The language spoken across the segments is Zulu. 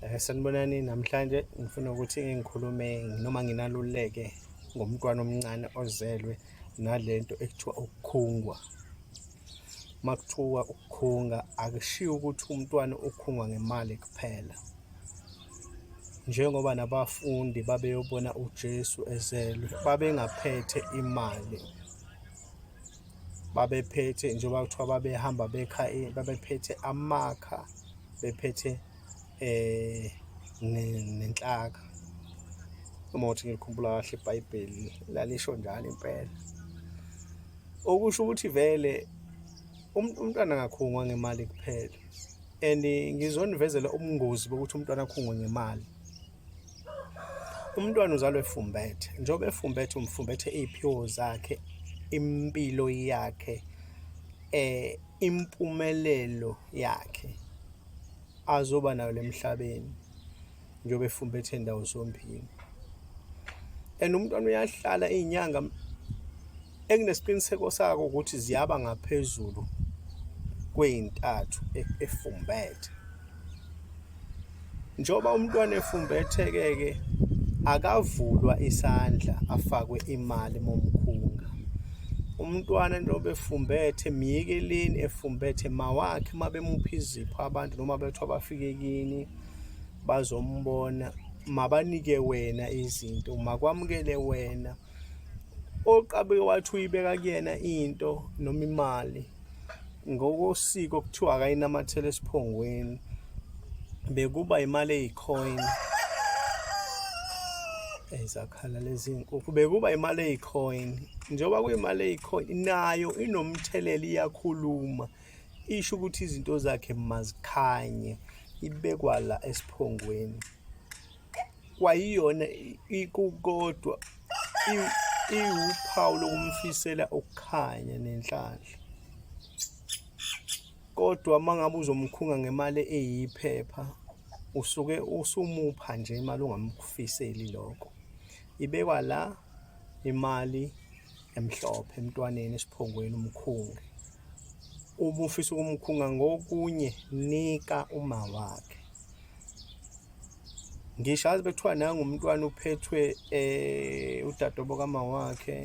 Eh, sanibonani namhlanje ngifuna ukuthi ngikhulume noma nginaluleke ngomntwana omncane ozelwe nalento ekuthiwa ukukhungwa makuthiwa ukukhunga akushiyo ukuthi umntwana ukhungwa ngemali kuphela njengoba nabafundi babeyobona uJesu ezelwe babengaphethe imali babephethe njengoba kuthiwa babehamba bekha eh, babephethe amakha bephethe eh nenhlaka uma uthi ngikhumbula kahle ibhayibheli lalisho njalo impela okusho ukuthi vele um-, umntwana angakhungwa ngemali kuphela and ngizonivezela ubungozi bokuthi umntwana akhungwe ngemali Umntwana uzalwa efumbethe, njengoba efumbethe umfumbethe iy'phiwo zakhe, impilo yakhe, um impumelelo yakhe azoba nayo la emhlabeni njengoba efumbethe ndawo zombili. And umntwana uyahlala iy'nyanga enginesiqiniseko sako ukuthi ziyaba ngaphezulu kweyintathu e-, efumbethe njoba umntwana efumbetheke ke akavulwa isandla afakwe imali momkhunga umntwana njengoba efumbethe miyekeleni efumbethe mawakhe mabemupha izipho abantu noma bethu abafike kini bazombona mabanike wena izinto makwamukele wena oqabeke wathi uyibeka kuyena into noma imali ngokosiko kuthiwa akayinamathela esiphongweni bekuba imali eyicoin ezakhala lezi nkukhu bekuba imali eyicoin njengoba kuyimali eyicoin nayo inomthelela iyakhuluma isho ukuthi izinto zakhe mazikhanye ibekwa la esiphongweni kwayiyona ikukodwa iwuphawu lokumfisela ukukhanya nenhlanhla kodwa uma ngabe uzomkhunga ngemali eyiphepha usuke usumupha nje imali ongamkufiseli lokho ibekwa la imali emhlophe emntwaneni esiphongweni umkhunge uma ufisa ukumkhunga ngokunye nika uma wakhe ngisho azi bekuthiwa nangu umntwana uphethwe eh udadobo kama wakhe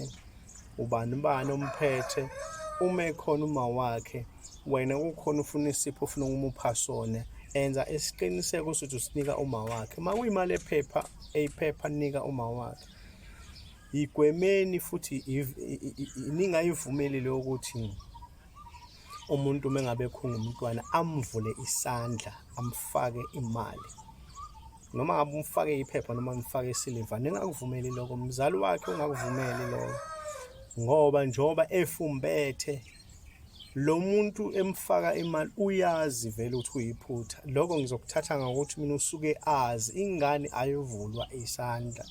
ubani ubani omphethe uma ekhona uma wakhe wena kukhona ufuna isipho ufuna ukumupha sona enza isiqiniseko sokuthi usinika uma wakhe uma kuyimali ephepha eyiphepha nika uma wakhe yigwemeni futhi ningayivumelile ukuthi umuntu uma ngabe khunga umntwana amvule isandla amfake imali noma ngabe umfake iphepha noma umfake isiliva ningakuvumeli lokho mzali wakhe ungakuvumeli lokho ngoba njengoba efumbethe lo muntu emfaka imali uyazi vele ukuthi uyiphutha lokho ngizokuthatha ngokuthi mina usuke azi ingane ayovulwa isandla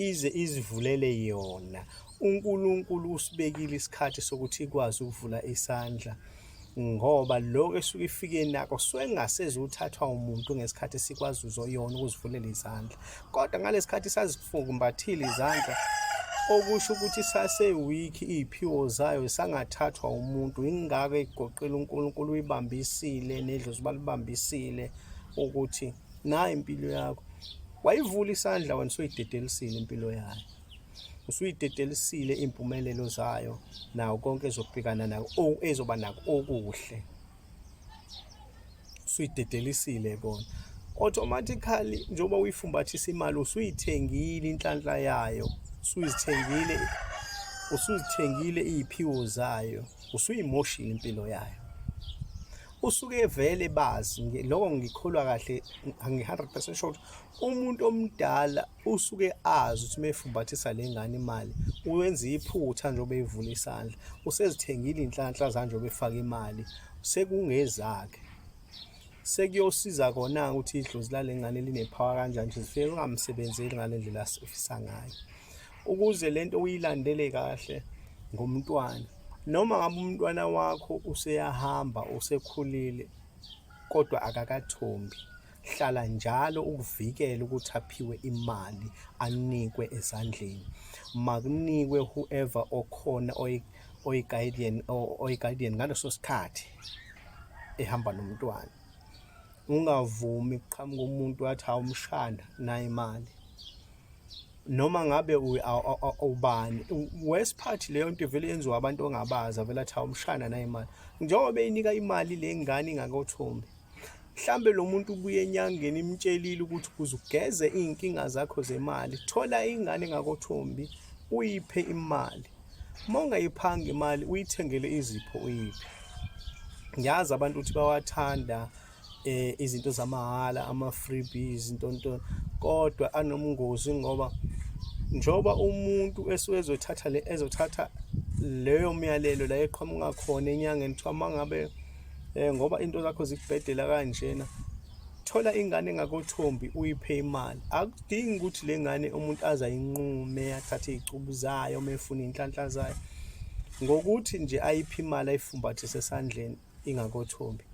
ize izivulele yona uNkulunkulu usibekile isikhathi sokuthi ikwazi ukuvula isandla ngoba lokho esuke ifike nako suke kungasezi uthathwa umuntu ngesikhathi sikwazi uzoyona ukuzivulela izandla kodwa ngalesikhathi sazifumbathile izandla okusho ukuthi sasewiki iy'phiwo zayo sangathathwa umuntu ingako egoqile uNkulunkulu uyibambisile nedlozi balibambisile ukuthi nayo impilo yakho wayivula isandla wena usuyidedelisile impilo yayo usuyidedelisile impumelelo zayo nawo konke ezobhekana nako o ezoba nako okuhle usuyidedelisile kona automatically njengoba uyifumbathisa imali usuyithengile inhlanhla yayo usuyithengile usuzithengile iy'phiwo zayo usuyimoshile impilo yayo usuke vele bazi lokho ngikholwa kahle ngi-100% sure umuntu omdala usuke azi ukuthi mefumbathisa le ngane imali uwenza iphutha njengoba evula isandla usezithengile inhlanhla zanjengoba efaka imali sekungezakhe sekuyosiza kona ukuthi idlozi lale ngane linepower kanjani nje zifike kungamsebenzeli ngale ndlela afisa ngayo ukuze lento uyilandele kahle ngomntwana noma ngabe umntwana wakho useyahamba usekhulile kodwa akakathombi hlala njalo ukuvikela ukuthi aphiwe imali anikwe ezandleni makunikwe whoever okhona oyi-guardian oyi-guardian ngaleso sikhathi ehamba nomntwana ungavumi kuqhamuka umuntu wathi awumshana nayi imali noma ngabe ubani worst part leyo nto ivele yenziwa abantu ongabaza vele athi awumshana naye imali njengoba beyinika imali le ngane ingakothombi mhlambe lo muntu ubuye enyangeni imtshelile ukuthi ukuze ugeze iy'nkinga zakho zemali thola ingane ngakothombi uyiphe imali uma ungayiphanga imali uyithengele izipho uyiphe ngiyazi abantu ukuthi bawathanda eh izinto zamahhala ama freebies into into kodwa anomngozi ngoba njoba umuntu esuke ezothatha le ezothatha leyo myalelo la eqhamuka khona enyangeni kuthiwa mangabe eh ngoba into zakho zikubhedela kanjena thola ingane engakothombi uyiphe imali akudingi ukuthi le ngane umuntu azayinqume athathe izicubu zayo uma efuna inhlanhla zayo ngokuthi nje ayiphe imali ayifumbathe sesandleni ingakothombi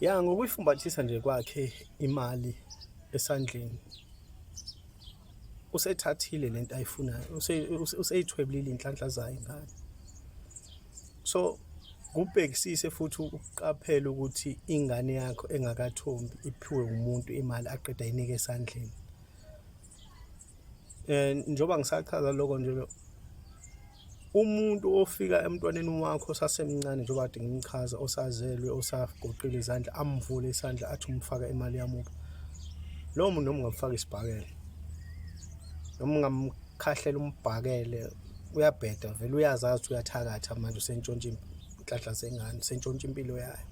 ya ngokuyifumbathisa nje kwakhe imali esandleni usethathile lento ayifunayo useyithwebulile inhlanhla zayo ngane so kubhekisise futhi ukuqaphela ukuthi ingane yakho engakathombi iphiwe umuntu imali aqeda inike esandleni eh njoba ngisachaza lokho nje umuntu ofika emntwaneni wakho osasemncane njengoba kade ngimchaza osazelwe osagoqile izandla amvule isandla athi umfaka imali yamuba lowo muntu noma ungamfaka isibhakele noma ungamkhahlela umbhakele uyabheda vele uyazazi ukuthi uyathakatha manje usentshontsha inhlanhla zengane usentshontsha impilo yayo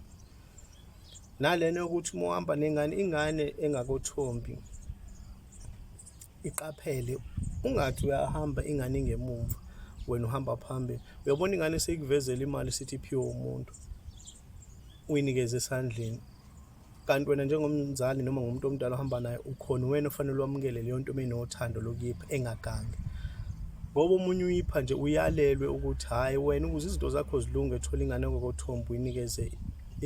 nalena yokuthi uma uhamba nengane ingane engakothombi iqaphele ungathi uyahamba ingane ingemumva wena uhamba phambili uyabona ingane seyikuvezela imali sithi iphiwe umuntu uyinikeze esandleni kanti wena njengomzali noma ngumuntu omdala ohamba naye ukhona wena ofanele wamukele leyo nto uma inothando lokuyipha engagangi ngoba omunye uyipha nje uyalelwe ukuthi hhayi wena ukuze izinto zakho zilunge thola ingane ngokothombo uyinikeze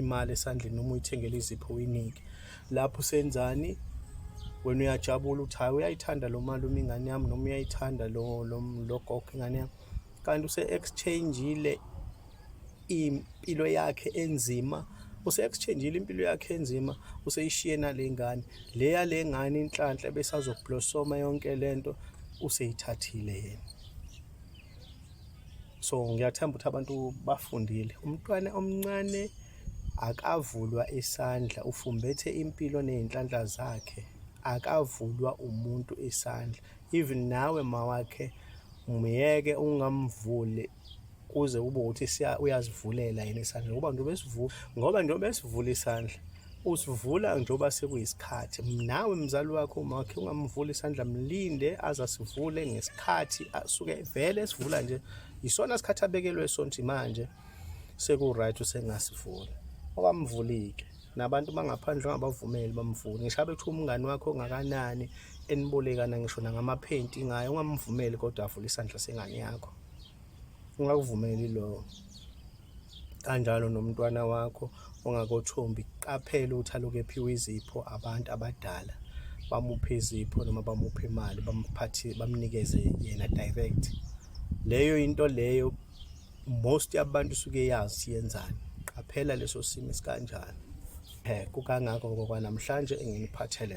imali esandleni noma uyithengele izipho uyinike lapho usenzani wena uyajabula ukuthi hhayi uyayithanda lo malume ingane yami noma uyayithanda lo gogo ingane yami kanti use-exchange-ile impilo yakhe enzima useyakuchangeile impilo yakhe enzima useyishiye nalengane le yalengane inhlanhla besazoblosoma yonke lento useyithathile yena so ngiyathemba ukuthi abantu bafundile umntwana omncane akavulwa isandla ufumbethe impilo nezinhlanhla zakhe akavulwa umuntu isandla even nawe mawakhe myeke ungamvuli kuze kube ukuthi siya uyazivulela yini isandla ngoba njengoba esivula ngoba njengoba esivula isandla usivula njengoba sekuyisikhathi nawe mzali wakho umakhe ungamvula isandla mlinde aze asivule ngesikhathi asuke vele esivula nje yisona sikhathi abekelwe sonti manje seku-right usengasivuli okamvulike nabantu bangaphandle ongabavumeli bamvuni ngisho abe kuthiwa umngani wakho ongakanani enibolekana ngisho nangamaphenti ngayo ungamvumeli kodwa avule isandla sengane yakho ungakuvumeli lokho kanjalo nomntwana wakho ongakothombi qaphela ukuthi aloku ephiwe izipho abantu abadala bamuphe izipho noma bamuphe imali bamphathe bamnikeze yena direct leyo into leyo most yabantu suke yazi siyenzani qaphela leso simo sikanjani eh kukangakongo kwanamhlanje enginiphathele